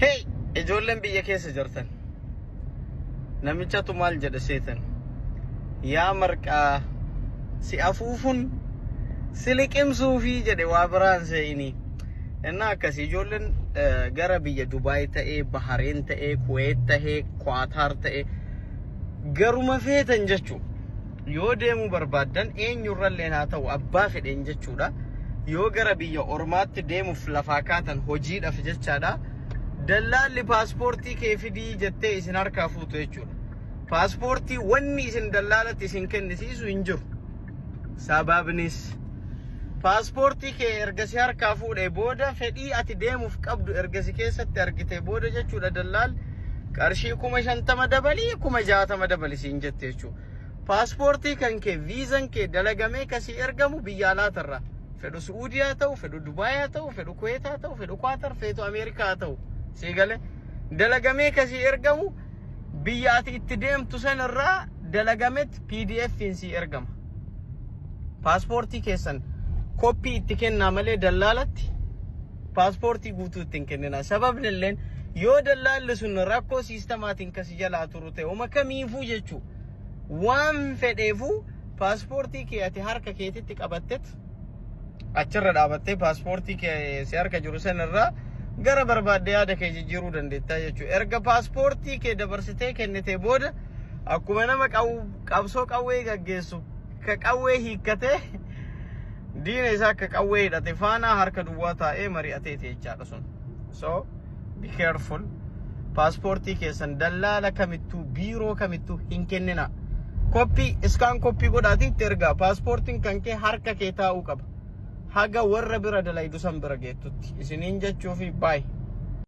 Hey ijoolleen biyya keessa jirtan namichatu maal jedhe seetan yaa marqaa si afuufun si liqimsuufi jedhe waa biraan seeyini innaa akkasii ijoolleen gara biyya Dubaay ta'ee Bahareen ta'ee Kuweet ta'ee Kwaataar ta'ee garuma feetan jechuudha. Yoo deemuu barbaaddan eenyurralleen haa ta'u abbaa fedheen jechuudha. Yoo gara biyya ormaatti deemuuf lafaa kaatan hojiidhaaf jechaadha. Dallaalli paaspoortii kee fidii jettee isin harkaa fuutu jechuudha. Paaspoortii wanni isin dallaalatti isin kennisiisu hin jiru. Sababnis paaspoortii kee erga si harkaa fuudhee booda fedhii ati deemuuf qabdu erga si keessatti argitee booda jechuudha dallaal qarshii kuma shantama dabalii kuma jaatama dabali siin jette jechuudha. Paaspoortii kan kee viizan kee dalagamee kasii ergamu biyya alaatarraa. Fedhu Su'uudii haa ta'u, fedhu Dubaay haa ta'u, fedhu Kuweet haa ta'u, fedhu Kwaatar, feetu Ameerikaa haa ta'u. Sii galee dalagamee kasii ergamu biyya ati itti deemtu sanarraa dalagametti PDFiin sii ergama. Paaspoortii keessan koppii itti kennaa malee dallaalatti paaspoortii guutuu itti hin kennina. Sababni illeen yoo dallaalli sun rakkoo siistamaatiin kasi jalaa turu Uma kamiifuu jechuu waan fedheefuu paaspoortii kee ati harka keetitti qabattet achirra dhaabattee paaspoortii kee si harka jiru sanarraa gara barbaadde yaada kee jijjiiruu dandeettaa jechuudha. Erga paaspoortii kee dabarsitee kennitee booda akkuma nama qabsoo qawwee gaggeessu ka qawwee hiikkatee diina isaa akka qawwee hidhate faanaa harka duwwaa taa'ee mari'ateeti jechaadha sun. So, be careful paaspoortii keessan dallaala kamittuu biiroo kamittuu hin kennina koppii iskaan koppii godhaatii itti ergaa paaspoortiin kan kee harka kee taa'uu qaba haga warra bira dalaydu san bira geettutti isiniin jechuu fi baay